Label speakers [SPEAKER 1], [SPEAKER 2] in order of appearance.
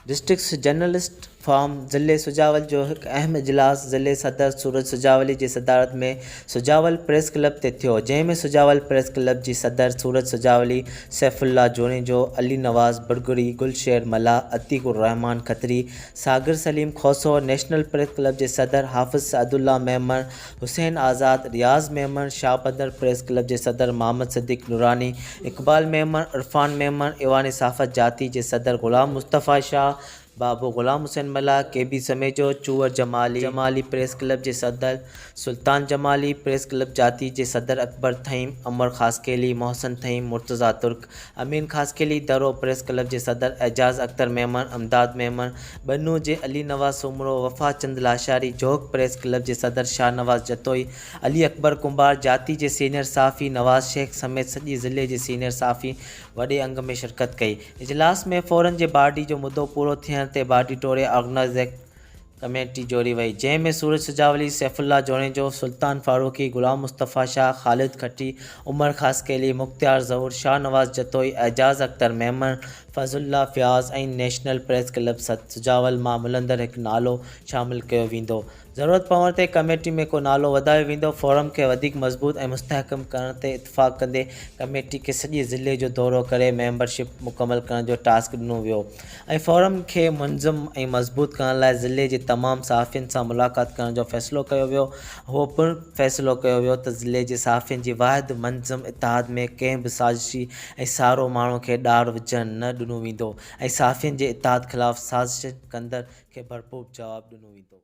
[SPEAKER 1] Districts journalist forum ضلعي سجاول جو هڪ اهم اجلاس ضلعي صدر سورج سجاولي جي صدارت ۾ سجاول پريس ڪلب تي ٿيو جنهن ۾ سجاول پريس ڪلب جي صدر Suraj Sujawali, Saif Ullah Junejo, Ali Nawaz Burgari, Gul Sher Mallah, Atiq Ur Rehman Khatri, Sagar Saleem Khoso, national press club جي صدر حافظ سعدالله ميمڻ، حسين آزاد، رياض ميمڻ، شاهبندر پريس ڪلب جي صدر محمد صديق نوراني، اقبال ميمڻ، عرفان ميمڻ، ايوان صحافت جاتي جي صدر غلام مصطفيٰ شاهه، بابو Ghulam Hussain Mallah, K B Samejo, Chohar Jamali, Jamali press club جي صدر سلطان جمالي، پريس ڪلب جاتي جي صدر اڪبر ٿهيم، عمر خاصخيلي، محسن ٿهيم، مرتضيٰ ترڪ، امين خاصخيلي، درو پريس ڪلب جي صدر اعجاز اختر ميمڻ، امداد ميمڻ، ٻنهو جي علي نواز سومرو، وفا چند لاشاري، جوهڪ پريس ڪلب جي صدر شاهنواز جتوئي، علي اڪبر ڪنڀار، جاتي جي سينيئر صحافي نواز شيخ سميت سڄي ضلعي جي سينيئر صحافي وڏي انگ ۾ شرڪت ڪئي. اجلاس ۾ فورن جي باڊي جو مدو پورو ٿيڻ تي باڊي ٽوڙي آرگنائيزر ڪميٽي جوڙي وئي، جنهن ۾ سورج سجاولي، سيف الله جوڻيجو، سلطان Farooqui, Ghulam Mustafa Shah, Khalid Khatti, Umar Khaskheli, Mukhtiar Zahoor, Shahnawaz Jatoi, Ejaz Akhtar Memon, Fazal Ullah Fayaz ۽ national press club سٿ سجاول مان ملندڙ هڪ نالو شامل ڪيو ويندو. ضرورت پوڻ تي ڪميٽي ۾ ڪو نالو وڌايو ويندو. فورم کي وڌيڪ مضبوط ۽ مستحڪم ڪرڻ تي اتفاق ڪندي ڪميٽي کي سڄي ضلعي جو دورو ڪري ميمبرشپ مڪمل ڪرڻ جو ٽاسڪ ڏنو ويو. ۽ فورم کي منظم ۽ مضبوط ڪرڻ لاء ضلعي جي تمام صحافين سان ملاقات ڪرڻ جو فيصلو ڪيو ويو اهو پڻ فيصلو ڪيو ويو ته ضلعي جي صحافين جي واحد منظم اتحاد ۾ ڪنهن به سازشي ۽ سارو ماڻهو کي ڏار وجهڻ نه ڏنو ويندو ۽ صحافين جي اتحاد خلاف سازشن ڪندڙ کي ڀرپور جواب ڏنو ويندو.